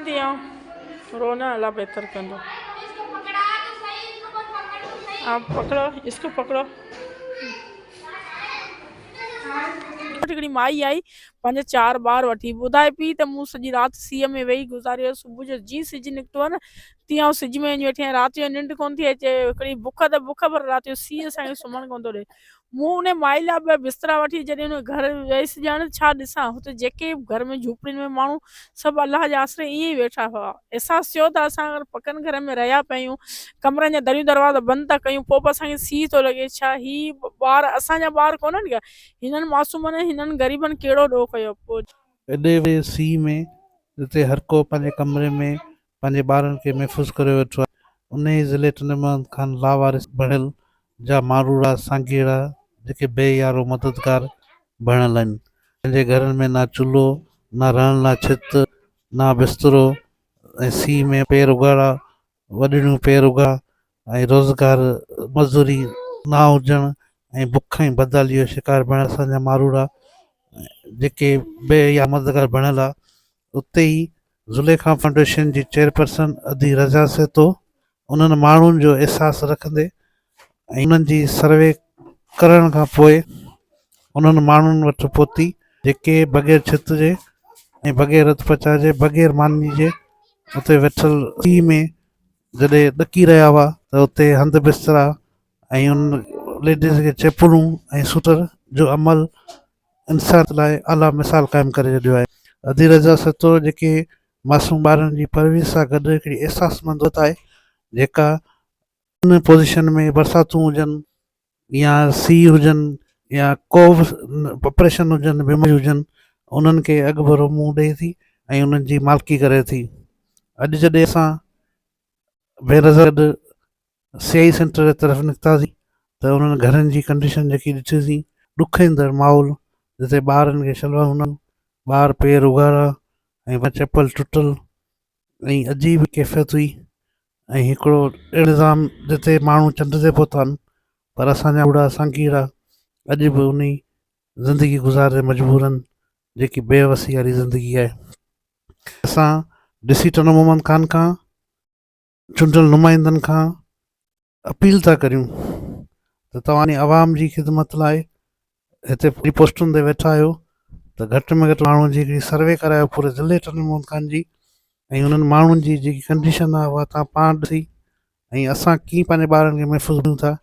تيئن روئڻ الا بهتر ڪندو. عشق پڪڙو عشق پڪڙو عشق پڪڙو. هڪڙي مائي آئي پنهنجا چار ٻار وٺي. ٻڌائي پيئي ته مون سڄي رات سيء ۾ ويهي گذاريو. صبح جو جيئن سج نڪتو نه تيئن آئون سج ۾ وڃي ويٺي آهيان. رات جو ننڊ ڪونه ٿي اچي. هڪڙي بک ته بک پر رات جو سيء اسان کي سمهڻ ڪونه ٿو ڏئي. مون انهي مائي لاء به بسترا وٺي جڏهن انهي گهر ويس ڄڻ ڇا ڏسان هتي جيڪي به گهر ۾ جهوپڙين ۾ ماڻهو سڀ الله جي آسري ائين ئي ويٺا هئا احساس ٿيو ته اسان اگر پڪن گهرن ۾ رهيا پيا آهيون ڪمرن جا دريون دروازا بند ٿا ڪيون پوء به اسان کي سيء ٿو لڳي ڇا هي ٻار اسان جا ٻار ڪونهن ڪيا هنن معصومن ۽ هنن غريبن ڪهڙو ڏوهه ڪيو پوء انهي سيء ۾ جتي هرڪو پنهنجي ڪمري ۾ پنهنجي ٻارن کي محفوظ ڪريو ويٺو آهي. انهيء ضلعي ٽنڊمحمد خان لاوارث بڻيل جا ماروئڙا سانگيئڙا جيڪي بي يارو مددگار بڻيل آهن پنهنجي گهرن ۾ نه چلهو نه رهڻ لا ڇت نه بسترو ۽ سيء ۾ پير اگهاڙا وڏڙيون پير اگها ۽ روزگار مزوري نه هجڻ ۽ بک ۽ بدحاليء جو شڪار بڻيل اسان جا ماروئڙا جيڪي بي يارو مددگار بڻيل آهن اتي ئي زليخا فائونڊيشن جي چيئرپرسن ادي رضا سهتو انهن ماڻهن جو احساس رکندي ۽ انهن جي سروي ڪرڻ کان پوء انهن ماڻهن وٽ پهتي جيڪي بغير ڇت جي ۽ بغير رت پچاء جي بغير ماني جي اتي ويٺل سي ۾ جڏهن ڏڪي رهيا هئا ته اتي هنڌ بسترا ۽ ان ليڊيز کي چيپلون ۽ سوٽر جو عمل انسانيت لاء اعليٰ مثال قائم ڪري ڇڏيو آهي. ادي رضا سهتو جيڪي معصوم ٻارڙن جي پرورش سان گڏ هڪڙي احساس مند عورت آهي جيڪا ان پوزيشن ۾ برساتون هجن يا سي هجن يا ڪو به آپريشن هجن بيماريون هجن انهن کي اڳڀرو منهن ڏئي ٿي ۽ انهن جي مالڪي ڪري ٿي اڄ جڏهن اسان بي رضا گڏ سي آء اي سينٽر جي طرف نڪتاسين ته انهن گهرن جي ڪنڊيشن جيڪي ڏٺيسين ڏک ايندڙ ماحول جتي ٻارن کي شلوار هوندا ٻار پير اگهاڙا ۽ چپل ٽٽل ۽ عجيب ڪيفيت هئي ۽ هڪڙو اهڙو نظام جتي ماڻهو چنڊ تي پهتا آهن پر اسان جا ٻڙا سانگيئڙا اڄ به انهي زندگي گذاري مجبور آهن جيڪي بي وسي واري زندگي آهي اسان ڏسي ٽنڊو محمد خان کان چونڊيل نمائندن کان اپيل ٿا ڪريون ته توهان عوام جي خدمت لاء هتي پوري پوسٽن تي ويٺا آهيو ته گهٽ ۾ گهٽ ماڻهن جي هڪڙي سروي ڪرايو پوري ضلعي ٽنڊو محمد خان جي ۽ انهن ماڻهن جي جيڪي ڪنڊيشن آهي اها تان پاڻ ڏسي ۽ اسان ڪيئن پنهنجي ٻارن کي محفوظ ڪيون ٿا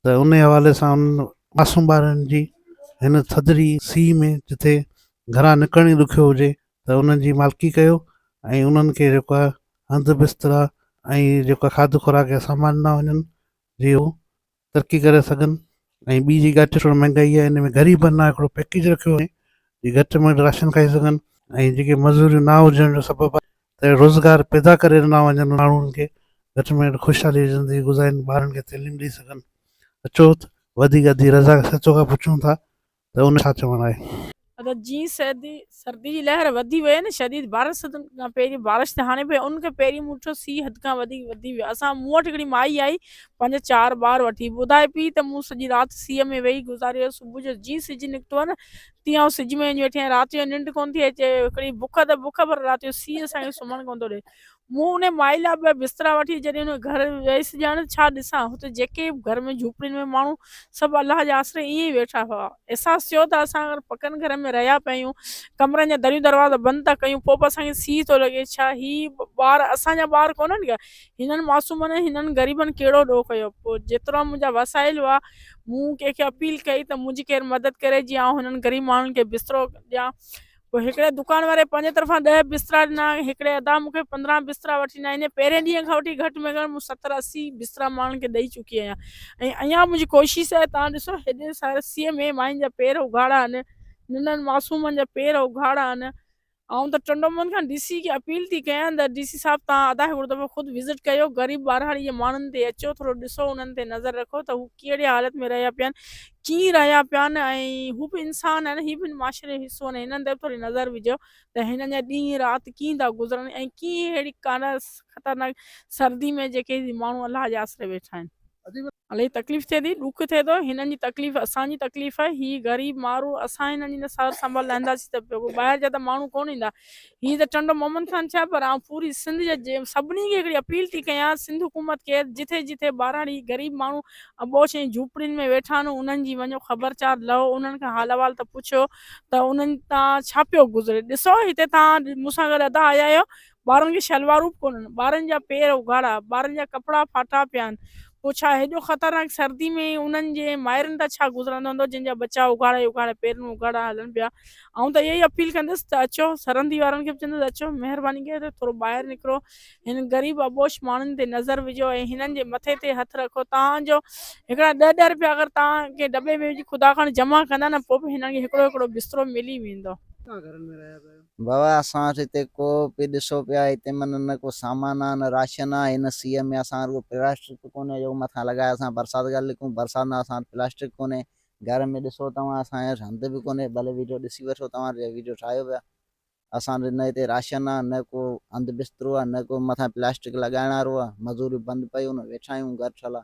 ته انهي حوالي سان انهن معصوم ٻارڙين جي هن ٿڌڙي سيء ۾ جتي گهران نڪرڻ ئي ڏکيو هجي ته انهن جي مالڪي ڪيو ۽ انهن کي جيڪو آهي هنڌ بسترا ۽ جيڪو کاڌ خوراڪ جا سامان ڏنا وڃن جي هو ترقي ڪري سگهن ۽ ٻي جي ڳاٽ ٿورو مهنگائي آهي ان ۾ غريبن لاء هڪڙو پيڪيج رکيو وڃي جي گهٽ ۾ گهٽ راشن کائي سگهن ۽ جيڪي مزوريون نه هجڻ جو سبب آهي ته روزگار پيدا ڪري ڏنا وڃن ماڻهن کي گهٽ ۾ گهٽ خوشحالي جي زندگي گذارين ٻارن کي تعليم ڏئي سگهن اچو ته وڌيڪ ادي رضا سچو کان پڇون ٿا ته ان ڇا چوڻ آهي. ادا جي سردي سردي جي لهر وڌي وئي نه شديد بارش سدن کان پهرين بارش ته هاڻي پئي ان کان پهرين مون ڏٺو سي حد کان وڌيڪ وڌي ويو اسان مون وٽ هڪڙي مائي آئي پنهنجا چار ٻار وٺي ٻڌائي پئي ته مون سڄي رات سيء ۾ ويهي گذاريو صبح جو جي سج نڪتو نه تيئن آئون سج ۾ وڃي ويٺي آهيان رات جو ننڊ ڪونه ٿي اچي هڪڙي بک ته بک پر رات جو سيء اسان کي سمهڻ ڪونه ٿو ڏئي مون انهي مائي لاء ٻه بسترا وٺي جڏهن انهي گهر ويس ڄڻ ڇا ڏسان هتي جيڪي به گهر ۾ جهوپڙين ۾ ماڻهو سڀ الله جي آسري ائين ئي ويٺا هئا احساس ٿيو ته اسان اگر پڪن گهرن ۾ رهيا پيا آهيون ڪمرن جا دريون دروازا بند ٿا ڪيون پوء به اسان کي سيء ٿو لڳي ڇا هي ٻار اسان جا ٻار ڪونهن ڪيا هنن معصومن ۽ هنن غريبن ڪهڙو ڏوهه ڪيو؟ پوء جيترا منهنجا وسائل هئا، مون ڪنهن کي اپيل ڪئي ته منهنجي ڪير مدد ڪري جيئن آئون هنن غريب ماڻهن کي بسترو ڏيان. پوء هڪڙي دڪان واري پنهنجي طرفان ڏهه بسترا ڏنا. هڪڙي ادا مون کي پندرهن بسترا وٺي ڏنا. يعني پهرين ڏينهن کان وٺي گهٽ ۾ گهٽ مون ستر اسي بسترا ماڻهن کي ڏئي چڪي آهيان ۽ اڃا منهنجي ڪوشش آهي. توهان ڏسو هيڏي سارسيء ۾ ماين جا پير اگهاڙا آهن، ننڍن معصومن جا پير اگهاڙا آهن، آئون ته ٽنڊو محمد کان ڊي سي کي اپيل ٿي ڪيان ته ڊي سي صاحب توهان ادا هڪڙو دفعو خود وزٽ ڪيو غريب ٻاراڙي جي ماڻهن تي اچو ٿورو ڏسو انهن تي نظر رکو ته هو ڪهڙي حالت ۾ رهيا پيان ڪيئن رهيا پيان ۽ هو به انسان آهن هي به معاشري جو حصو آهن هنن تي به ٿوري نظر وجهو ته هنن جا ڏينهن رات ڪيئن ٿا گذرن ۽ ڪيئن ههڙي خطرناڪ سردي ۾ جيڪي ماڻهو الله جي آسري ويٺا آهن الائي تڪليف ٿئي ٿي ڏک ٿئي ٿو هنن جي تڪليف اسان جي تڪليف آهي هي غريب مارو اسان هنن جي سار سنڀال لهنداسين ته پيو ٻاهر جا ته ماڻهو ڪون ايندا هي ته ٽنڊو محمد خان ڇا پر آئون پوري سنڌ جي سڀني کي هڪڙي اپيل ٿي ڪيان سنڌ حڪومت کي جٿي جٿي ٻاراڙي غريب ماڻهو ابوش ۽ جهوپڙين ۾ ويٺا آهن انهن جي وڃو خبرچار لهو انهن کان حال احوال ته پڇيو ته انهن تان ڇا پيو گذري ڏسو هتي تان مون سان گڏ ادا آيا آهيو ٻارن جون شلوارون به ڪونهن، ٻارن جا پير اگهاڙا، ٻارن جا ڪپڙا ڦاٽا پيا آهن، پوء ڇا هيڏو خطرناڪ سردي ۾ انهن جي مائرن تان ڇا گذرندو هوندو جن جا ٻچا اگهاڙا ئي اگهاڙا پيرن اگهاڙا هلن پيا. آئون ته اها ئي اپيل ڪندس ته اچو سرهندي وارن کي به چوندس اچو مهرباني ڪري ٿورو ٻاهر نڪرو هن غريب اٻوش ماڻهن تي نظر وجهو ۽ هنن جي مٿي تي هٿ رکو تان جو هڪڙا ڏهه ڏهه رپيا اگر توهان ڪنهن ڊٻي ۾ وجهي خدا کان جمع ڪندا نه پوء به هنن کي هڪڙو هڪڙو بسترو ملي ويندو. بابا اسان وٽ هتي ڪو به ڏسو پيا هتي معنيٰ نه ڪو سامان آ نه راشن آ هن سيء ۾ اسان وٽ ڪو پلاسٽڪ ڪونهي جو مٿان لڳائي اسان برسات کان لڪون برسات ۾ اسان وٽ پلاسٽڪ ڪونهي گهر ۾ ڏسو توهان اسان وٽ هنڌ به ڪونهي ڀلي ويڊيو ڏسي وٺو توهان جيڪو ويڊيو ٺاهيو پيا اسان وٽ نه هتي راشن آ نه ڪو هنڌ بسترو آ نه ڪو مٿان پلاسٽڪ لڳائڻ وارو آ مزوريون بند پيون آ ويٺا آهيون گهر ٺهيل آ.